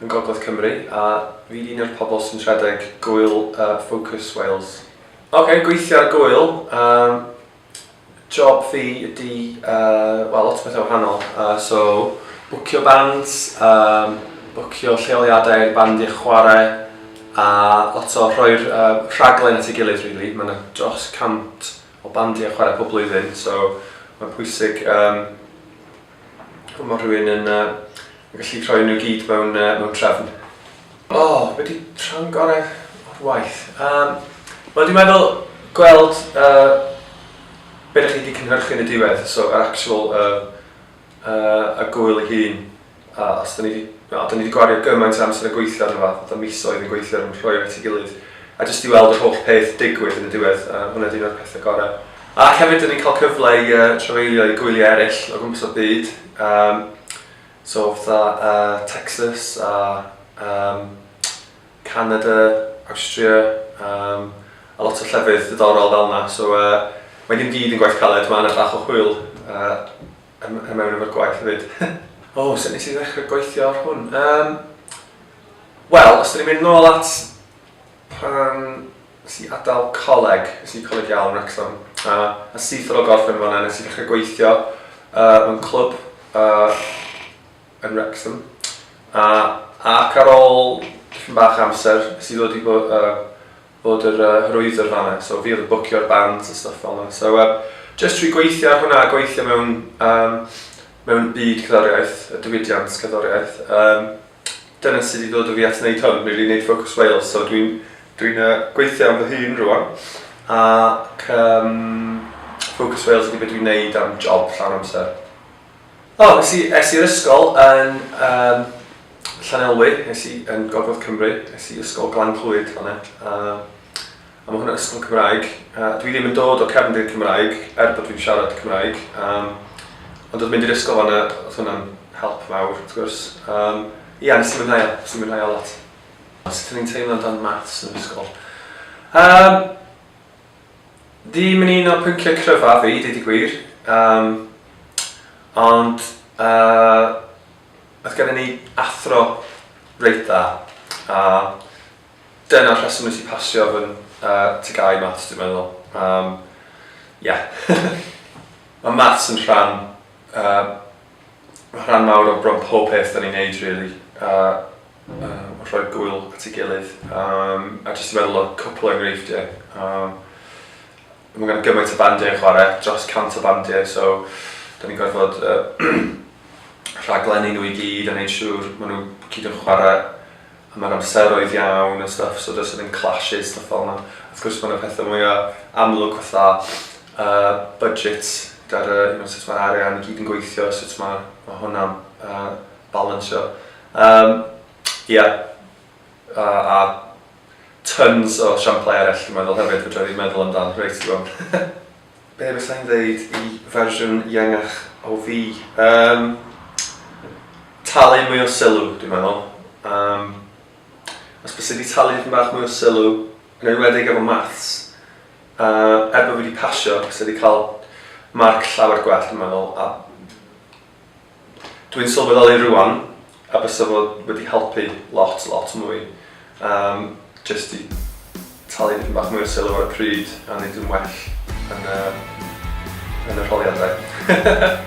yn Gogledd Cymru a fi'n un o'r pobl sy'n rhedeg Gŵyl Focus Wales. Ok, gweithio ar Gŵyl, yym job fi ydi wel lot o bethau wahanol so bwcio bands, yym bwcio lleoliadau i'r band i chwarae a lot o rhoi'r rhaglen at ei gilydd rili, ma' 'na dros 100 o bandiau chwarae pob blwyddyn so ma'n pwysig yym Mae rhywun yn uh, gallu rhoi nhw gyd mewn, uh, mewn trefn. O, oh, wedi rhan gorau o'r waith. Um, Wel, dwi'n meddwl gweld uh, beth ydych chi wedi cynhyrchu yn y diwedd, so yr actual uh, uh, y gwyl ei hun. Uh, os da ni wedi no, da ni wedi gwario gymaint o amser yn gweithio arno fa, fatha misoedd yn gweithio yn rhoi at ei gilydd, a jyst i weld yr holl peth digwydd yn y diwedd, uh, hwnna dwi'n o'r pethau gorau. Ac hefyd dyn ni'n cael cyfle i yy trafeilio i gwyliau eraill o gwmpas y byd yym so fatha yy Texas a yym Canada, Awstria yym a lot o llefydd diddorol fel 'na so yy mae dim gyd yn gwaith caled ma' 'na bach o hwyl yy yn yn mewn efo'r gwaith hefyd. O sut nes i ddechre gweithio ar hwn? Yym wel os 'dan ni'n mynd nôl at Pan nes i adael coleg, es i i Coleg Iâl yn Wrecsam, a a syth ar ôl gorffen yn fan'na nes i ddechrau gweithio yy mewn clwb yy yn Wrecsam a ac ar ôl dipyn bach o amser nes i ddod i bo- yy fod yr yy hyrwyddwr fan'na, so fi oedd yn bwcio'r bands a stwff fel 'na, so yy jyst trwy gweithio ar hwnna a gweithio mewn yym mewn byd cerddoriaeth, y diwydiant cerddoriaeth yym Dyna sut i ddod â fi at wneud hwn, rili, wneud Focus Wales. So dwi'n dwi gweithio am fy hun rwan, ac um, Focus Wales ydy beth dwi'n wneud am job llawn amser. O, oh, es i'r ysgol yn um, Llanelwy, es i yn Gogledd Cymru, es i ysgol Glan Clwyd fanna. Um, A ma' hwn yn ysgol Cymraeg. A dwi ddim yn dod o cefndir Cymraeg, er bod fi'n siarad Cymraeg. Yym, ond oedd mynd i'r ysgol fan'na, oedd hwnna'n help mawr, wrth gwrs. Yym, ia, nes i mwynhau o, nes i mwynhau o lot. A sut o'n i'n teimlo am dan maths yn yr ysgol? Yym, ddim yn un o'r pynciau cryfaf fi, deud y gwir. Yym, ond, yy, oedd gennon ni athro reit dda. A, Dyna'r rheswm nes i pasio fy TGAU i Maths dwi'n meddwl. Yym ie. Ma' Maths yn rhan yy rhan mawr o bron pob peth 'dan ni'n neud rili a yym rhoi gŵyl at ei gilydd yym a jyst i meddwl o cwpwl o engreifftie yym Mae gan gymaint o bandiau yn chwarae, dros 100 o bandiau, so da ni'n gorfod rhaglennu nhw i gyd a neud siŵr maen nhw gyd yn chwarae a mae'r amseroedd iawn a stwff, so does 'na ddim clashes, stwff fel yna. Wrth gwrs mae 'na pethau mwya' amlwg fatha uh budget gyda'r uh you know sut mae'r arian i gyd yn gweithio, sut mae ma' hwnna'n uh balansio. Yym ia. a tons o siamplau eraill dwi'n meddwl hefyd, fedra i ddim meddwl amdan reit rwan. Be fysai i'n ddeud i fersiwn iangach o fi? Um, talu mwy o sylw, dwi'n meddwl. Um, os bys i wedi talu yn bach mwy o sylw, yn enwedig efo maths, uh, er bod fi wedi pasio, bys i wedi cael marc llawer gwell, dwi'n meddwl, a Dwi'n sylweddoli rŵan a bysa fo wedi helpu lot lot mwy yym jyst i talu dipyn bach mwy o sylw ar y pryd a neud yn well yn y yn y rholiadau.